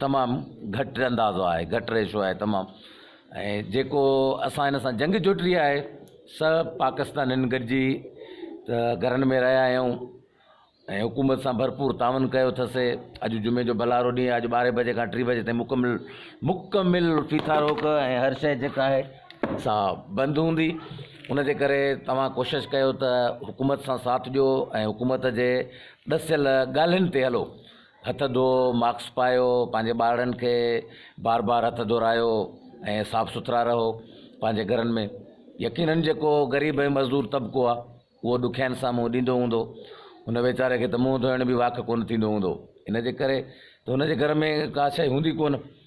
تمام گهٽ اندازو آهي گهٽ ريشو آهي تمام ۽ جيڪو اسان هن سان جنگ جوٽي آهي سا پاڪستانين گڏجي ته گهرن ۾ رهيا آهيون ۽ حڪومت سان ڀرپور تعاون ڪيو اٿسي اڄ جمعي جو ڀلارو ڏينهن اڄ ٻارهين بجي کان ٽي بجي تائين مڪمل مڪمل فيٿا روڪ ۽ هر شيء جيڪا آهي سا بند هوندي ان جي ڪري توهان ڪوشش ڪيو ته حڪومت سان ساٿ ڏيو ۽ حڪومت جي ڏسيل ڳالهين تي هلو هٿ ڌوئو، ماسڪ پايو، پنهنجي ٻارڙن کي بار بار هٿ ڌورائيو ۽ صاف سٿرا رهو پنهنجي گهرن ۾ يقينن جيڪو غريب ۽ مزدور طبقو آ اهو ڏکيائين سان منهن ڏيندو هوندو ان ويچاري کي ته منهن ڌوئڻ به واک ڪونه ٿيندو هوندو ان جي ڪري ته ان جي گهر ۾ ڪا شئي هوندي ڪونه.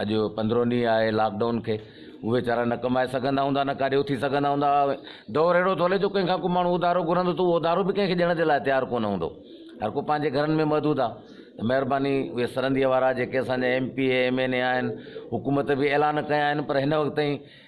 اڄ پندرهون ڏينهن آهي لاڪ ڊائون کي، اهي ويچارا نه ڪمائي سگهندا هوندا نه ڪاڏي اٿي سگهندا هوندا. دور اهڙو ٿو هلي جو ڪنهن کان ڪو ماڻهو اڌارو گهرندو ته اهو اڌارو به ڪنهن کي ڏيڻ جي لاء تيار ڪونه هوندو. هر ڪو پنهنجي گهرن ۾ محدود آ. ته مهرباني اهي سرنديء وارا جيڪي اسان جا M P A, M N A آهن، حڪومت به اعلان ڪيا آهن پر هن وقت تائين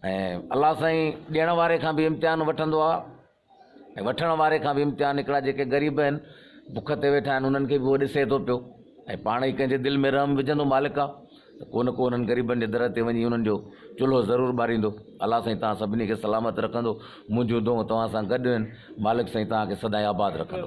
۽ الله سائين ڏيڻ واري کان به امتحان وٺندو آ ۽ وٺڻ واري کان به امتحان هڪڙا جيڪي غريب آهن بک تي ويٺا آهن انهن کي به هو ڏسي ٿو پيو ۽ پاڻ ئي ڪنهن جي دل ۾ رحم وجهندو مالڪ آ ته ڪو نه ڪو انهن غريبن جي در تي وڃي انهن جو چلهو ضرور ٻاريندو الله سائين توهان سڀني کي سلامت رکندو منهنجون دعون توهان سان گڏ آهن مالڪ سائين توهان کي سدائين آباد رکندو